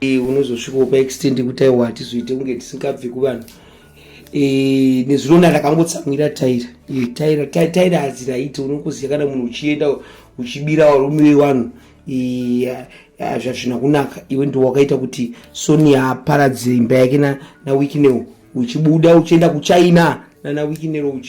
eh, unozosvikawo paextend yekuti aiwa hatizoite kunge tisingabvi kuvanhu eh, nezvinona ndakangotsamwira taira eh, taira taira hadziraiti unongoziva kana munhu uchienda uchibira varume vevanhu zvazvina kunaka iwe ndiwo wakaita kuti sonia aparadze imba yake nawikineo uchibuda uchienda kuchina nana wikinero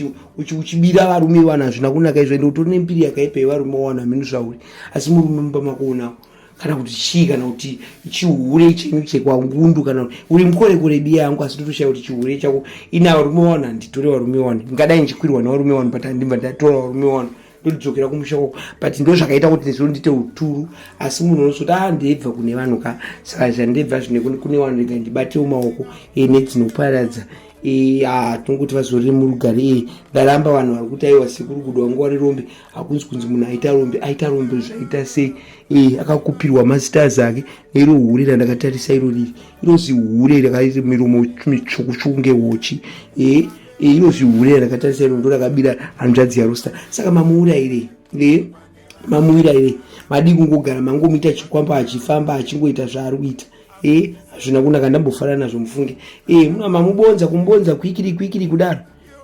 uchibira varume vanhu hazvina kunaka izvo ende utori nembiri yakaipa yevarume wawana mhinu zvauri asi murume mumba makuonawo kana kuti chii kana kuti chihure chenyu chekwangundu kana uri mukorekore biya yangu asi ndotoshaya kuti chihure chako ina varume wani handitore varume wani ndingadai ndichikwirwa nevarume wani but handimba ndatora varume wani ndotidzokera kumusha kwako but ndo zvakaita kuti nezuro ndiite uturu asi munhu unozoti a ah, ndeibva kune vanhu ka saka zvandeibva zvine kune vanhu rega ndibatewo maoko ene dzinoparadza e, ah, tinongoti vazorire murugare e ndaramba vanhu vari kuti aiwa sekuru kudwa nguva rirombe hakunzi kunzi munhu aita rombe aita rombe zvaita sei e, akakupirwa mastars ake neiro hure randakatarisa iro riri inozi hure rakaita miromo mitsvukutsvuku ngehochi e, e, inozi hure randakatarisa iro ndo rakabira hanzvadzi yarosta saka mamuura ire e, mamuira ire madii kungogara mangomuita chikwamba achifamba achingoita zvaari kuita e, hazvina kunaka ndambofanana nazvo mufunge e, mamubonza kumubonza kwikiri kwikiri kudaro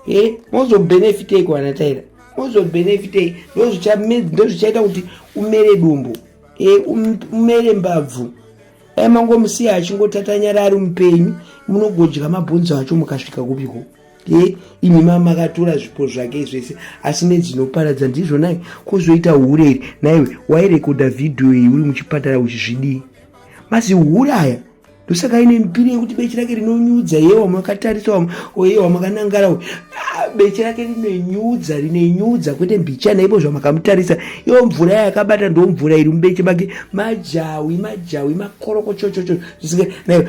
e mozobenefitei kuana taira mozobenefitei ndozvichaita kuti umere dumbu e um, umere mbabvu dai mangomusiya achingotatanyara ari mupenyu munogodya mabhonzo acho mukasvika kupiko e imi ma makatora zvipo zvake zvese asi nedzinoparadza ndizvo nai kuzoita hure iri naiwe wairekodha vhidhiyo iyi uri muchipatara uchizvidii masihure aya ndosaka ine mbiri yekuti beche rake rinonyudza ye wamakatarisa oye wamakanangara ah, beche rake rinenyudza rinenyudza kwete mbicha naibo zvamakamutarisa iyo mvura yakabata ndo mvura iri mubeche make majawi majawi makorokochochocho zvisinga nayo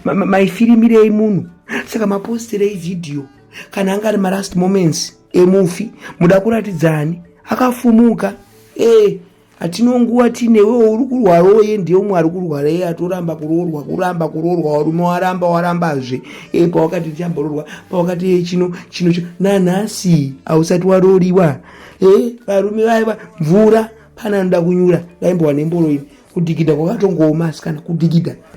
maifirimirei munhu saka mapostirei vhidhiyo kana anga ari malast moments emufi muda kuratidzani akafumuka ee eh. hatino nguva tine wewo uri kurwara oye ndiye umwe ari kurwara iye atoramba kuroorwa kuramba kuroorwa warume waramba warambazve e pawakati ndichambororwa pawakati e chino chino chino nanhasi hausati waroriwa e varume vaiva mvura pana anoda kunyura ndaimbowa nemboro ini kudhigidha kwakatongooma asikana kudhigidha